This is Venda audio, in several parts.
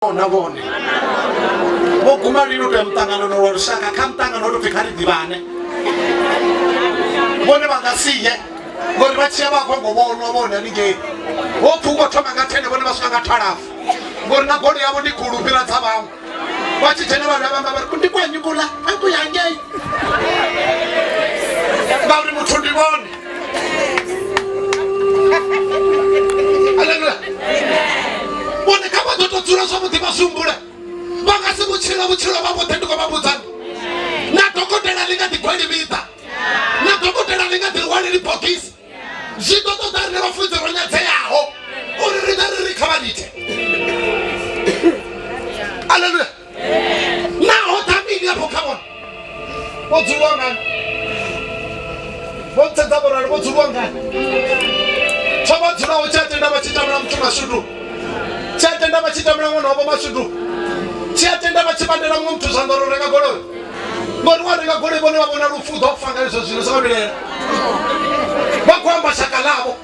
fanaho na vhone vho guma lini u to ya muṱanganoni wa lushaka kha muṱangano o to pfi kha ri ḓivhane vhone vha nga siye ngori vha tshiya vha kongo vhonwa vhone haningei wo pfu ukho thoma nga thene vhone vha swika nga thalafu ngori na golo yavho ndi khulu fhira dza vhaṅwe vha tshi dzhena vhavha vhamba vha ri ndi kwenyi kula a ku yangei ngauri muthu ndi vhone aleluya vhone kha vha ḓo to dzula zwavhuḓi vha sumbule vha nga si vhutshila vhutshilo vha vhuḓe ndi khou vha vhudzani na dokotela ḽi nga ḓi gweli vhiḓa na dokotela ḽi nga ḓi lwaleli bogisi zwi ḓo ṱoḓa rine vhafunzi ro nyadzeaho uri riṋe ri ri kha vha lite aleluya naho ṱhavhili afho kha vhona vho dzuliwa ngani vho ntsedza vhorali vho dzuliwa ngani tsho vha dzulaho tshi a tenda vha tshi tamula muthu mashudu tshi a tenda vha tshi tamula ṅwana wavho mashudu tshi a tenda vha tshi bandela muṅwe muthu zwanḓa uri renga goloi ngori wa renga goloi vhone vha vhona lufu u ḓo fa nga izwo zwino zwa vha vhilela vha khou amba shaka ḽavho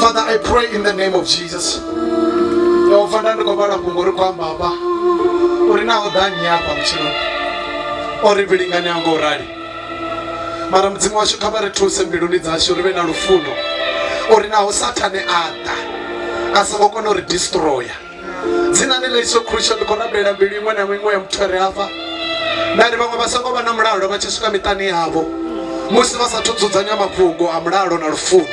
father i pray in the name of jesus yehova nda ndi khou vhala fhungo ri khou amba hafha uri na o ḓa nnyi hafha vhutshilo o ri vhilingani anga u rali mara mudzimu washu kha vha ri thuse mbiluni dzashu ri vhe na lufuno uri naho sathane a ḓa a songo kona u ri destroya dzinani ḽa iso khrutsho ndi khou rabelela mbilu iṅwe na iṅwe ya muthu a re hafha nda ri vhaṅwe vha songo vha na mulalo vha tshi swika miṱani yavho musi vha sathu dzudzanya mafhungo a mulalo na lufuno